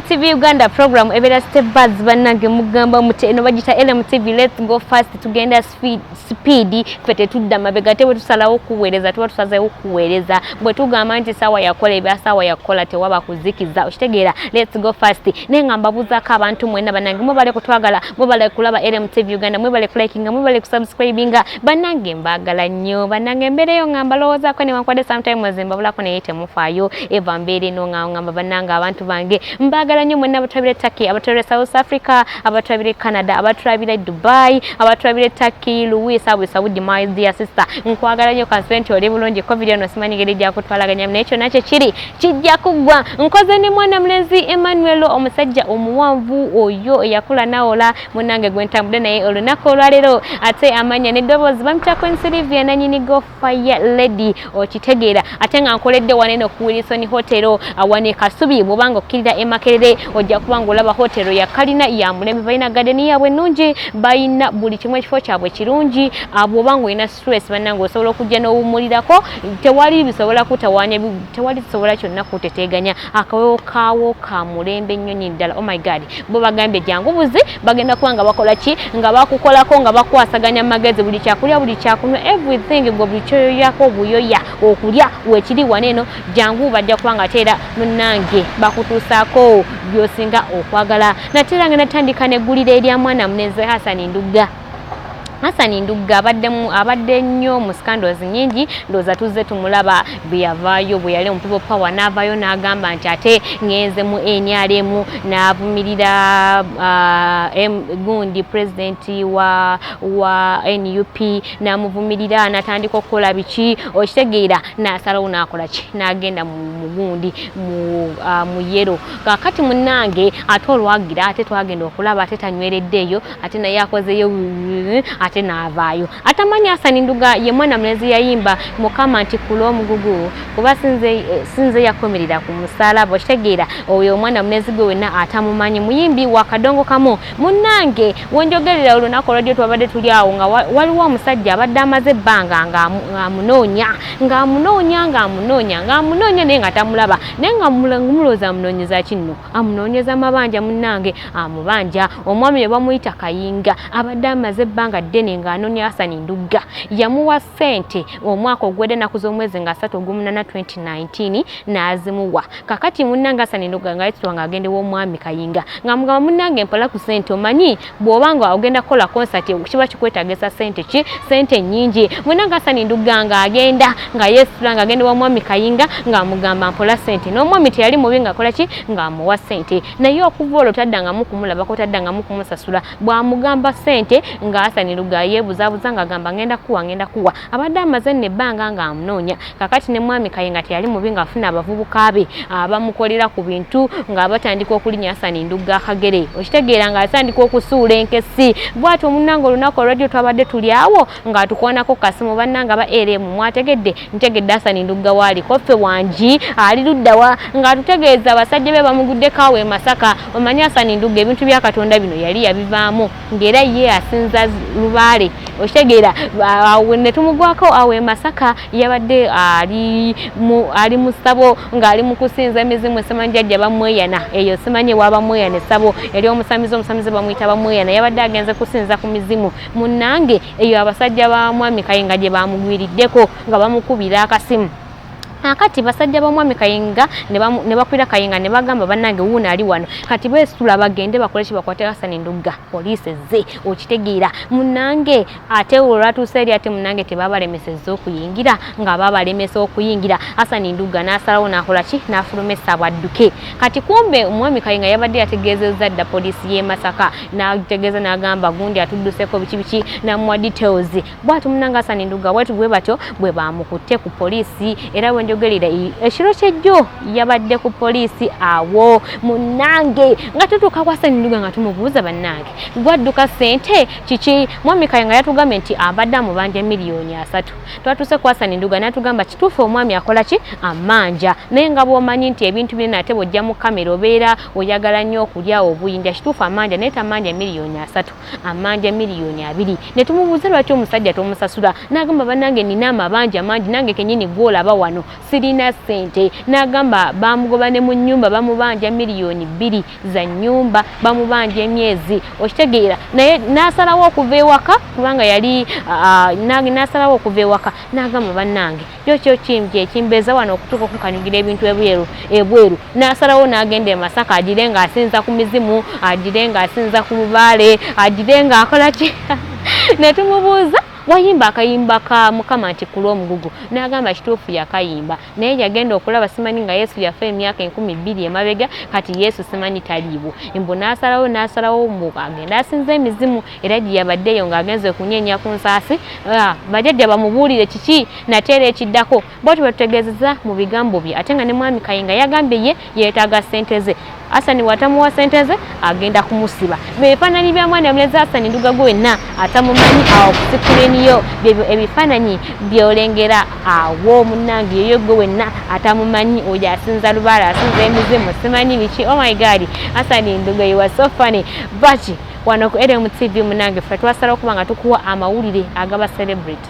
TV Uganda program ebera step buzz banange mugamba muti eno bagita LM TV let's go fast tugenda speed speed fete tudda mabega tewe tusalawo kuwereza tuwa tusaze okuwereza bwe tugamba nti sawa yakola ebya sawa yakola tewaba kuzikiza okitegeera let's go fast ne ngamba buza ka abantu mwena banange mubale kutwagala mubale kulaba LM TV Uganda mubale kulikinga mubale kusubscribinga banange mbagala nnyo banange embeera eyo nga mbalowoozaako newankubadde sometimes mbabulako naye temufaayo eva mbeera eno nga ngamba banange abantu bange mbagala nnyo mwenna abatulabira e turkey abatulabira e south africa abatulabira e canada abatulabira e dubai abatulabira e turkey louis abu saudi my dear sister nkwagala nnyo kansibe nti oli bulungi covid ono simanyi ngeri gyakutwalaganya naye kyonna kyekiri kijja kuggwa nkoze ne mwana mulenzi emmanuel omusajja omuwanvu oyo eyakula nawola munange gwentambude naye olunaku olwaleero ate amanya neddoboozi bamutako ensilivia nanyini go fire lady okitegeera ate nga nkoledde waneno ku wilson hotero awane kasubi bwobanga okkirira emakerere ojja kuba nga olaba hotero yakalina ya mulembe balina gadeni yaabwe ennungi balina buli kimu ekifo kyabwe kirungi ah, bwobanga olina stress banange osobola okujja n'owumulirako tewali bisobola kutawaanya tewali kisobola kyonna kuteteeganya akawewo kaawo ka mulembe nnyo nyini ddala oh my god bo bagambye jangu buzi bagenda kuba nga bakola ki nga bakukolako nga bakwasaganya magezi buli kyakulya buli kyakunywa everything gwe buli kyoyoyako obuyoya okulya wekiri wana eno jangu bajja kuba nga teera munange bakutuusaako byosinga okwagala nateera nga natandika neggulira erya mwana munenze hasani ndugga Hassan Ndugga abadde abadde nnyo mu scandals nyingi ndoza tuzze tumulaba bweyavaayo bwe yali omupibo power n'avaayo n'agamba nti ate ngenze mu NRM n'avumirira uh, gundi president wa, wa NUP n'amuvumirira n'atandika okukola biki okitegeera n'asalawo n'akola ki n'agenda mu gundi mu, uh, mu yero kakati munnange ate olwagira ate twagenda okulaba ate tanywereddeeyo ate naye akozeyo ate n'avaayo atamanyi asani nduga ye mwana mulezi yayimba mukama nti kula omugugu kuba sinze eh, yakomerera ku musalaba okitegeera oyo omwana mulezi gwe wenna atamumanyi muyimbi wa kadongo kamu munnange wenjogerera olunaku olwadyo twabadde tuli awo nga waliwo omusajja abadde amaze ebbanga ng'amunoonya ng'amunoonya ng'amunoonya ng'amunoonya naye nga tamulaba naye nga mulowooza amunoonyeza kinno amunoonyeza mabanja munnange amubanja omwami ne bamuyita kayinga abadde amaze ebbanga ddene ng'anoonya hasani ndugga yamuwa ssente omwaka ogwedde naku z'omwezi nga asatu ogumunana 2019 n'azimuwa kakati munnange hasani ndugga nga yetutwa ng'agenda ew'omwami kayinga ng'amugamba munnange mpola ku ssente omanyi bwoba nga ogenda kukola concert kiba kikwetagisa sente ki sente nyingi mwena nga sani nduga nga agenda nga yesula nga agenda wa mwami kayinga nga amugamba mpola sente n'omwami teyali mubi nga akola ki nga amuwa sente naye okuva olwo taddanga mukumulaba ko taddanga mukumusasula bwamugamba sente nga asani nduga yebuzabuza nga agamba ngenda kuwa ngenda kuwa abadde amaze nno ebbanga nga amunoonya kakati ne mwami kaye nga teyali mubi ngaafuna abavubuka be abamukolera ku bintu nga batandika okulinya asani ndugga akagere okitegeera nga atandika okusuula enkesi bwati omunanga olunaku olwajjo twabadde tuli awo ng'atukwanako kasimu bannanga ba eremu mwategedde ntegedde asani ndugga waali koffe wangi ali luddawa ng'atutegeeza abasajja be bamuguddeko awo e masaka omanyi asani ndugga ebintu bya katonda bino yali yabivaamu ngera ye asinza lubaale okitegeera netumugwako awo emasaka yabadde ali ali musabo ng'ali mu kusinza emizimu esimanyi jajja bamweyana eyo simanyi wabamweyana esabo eri omusamizi omusamizi bamuyita bamweyana yabadde agenze kusinza ku mizimu munnange eyo abasajja ba mwami kayenga gye bamugwiriddeko nga bamukubira akasimu kakati basajja bamwami kayinga ne bakwira kayinga ne bagamba banange wuuno ali wano kati besitula bagende bakole kibakwate hasani ndugga poliisi ezze okitegeera munange ate olwatuusa eri ate munange tebabalemesezza okuyingira nga babalemesa okuyingira hasani ndugga n'asalawo n'akola ki n'afulumesa bwadduke kati kumbe omwami kayinga yabadde yategeezezza dda poliisi y'e masaka n'ategeeza n'agamba gundi atudduseko biki biki namuwa details bwati munanga asani nduga watu bwe batyo bwe bamukutte ku poliisi era bwe njogerera ekiro kyejjo yabadde ku poliisi awo munange nga tutuuka ku asani nduga nga tumubuuza bannange gwadduka sente kiki mwami kaye nga yatugambye nti abadde amubanja miliyoni asatu twatuuse ku asani nduga natugamba kituufu omwami akola ki amanja naye nga bwomanyi nti ebintu byona ate bwojja mu kamera obeera oyagala nnyo okulya obuyinja kituufu amanja naye tamanja miliyoni asatu amanja miliyoni abiri ne tumubuuza lwaki omusajja tomusasula n'agamba bannange nina amabanja mangi nange kenyini gwolaba wano sirina ssente n'agamba bamugoba ne mu nnyumba bamubanja miliyoni bbiri za nnyumba bamubanja emyezi okitegeera naye n'asalawo okuva ewaka kubanga yali n'asalawo okuva ewaka n'agamba bannange kyo kyo kimu kyekimbeeza wano okutuuka okukanyugira ebintu ebweru ebweru n'asalawo n'agenda e masaka agire nga asinza ku mizimu agire nga asinza ku lubaale agire nga akola ki ne tumubuuza wayimba akayimba ka mukama nti kulwa omugugu n'agamba kituufu yakayimba naye yagenda okulaba simanyi nga yesu yafa emyaka enkumi bbiri emabega kati yesu simanyi taliibwo mbu n'asalawo n'asalawo mbu agenda asinza emizimu era gye yabaddeyo ng'agenze okunyeenya ku nsaasi ah, bajajja bamubuulire kiki nateera ekiddako bwati batutegeezeza mu bigambo bye ate nga ne mwami kayinga yagambye ye yeetaaga ssente ze asani watamuwa ssente ze agenda kumusiba bebifaananyi bya mwana mulezi asani nduga gwenna atamumanyi awo kusikuleniyo byebyo ebifaananyi byolengera awo munange yoyo gwe wenna atamumanyi oyo asinza lubaala asinza emizimu simanyi biki omygadi oh asani nduga iwa sofani baki wano ku LMTV munange ffe twasalawo kuba nga tukuwa amawulire agaba celebrity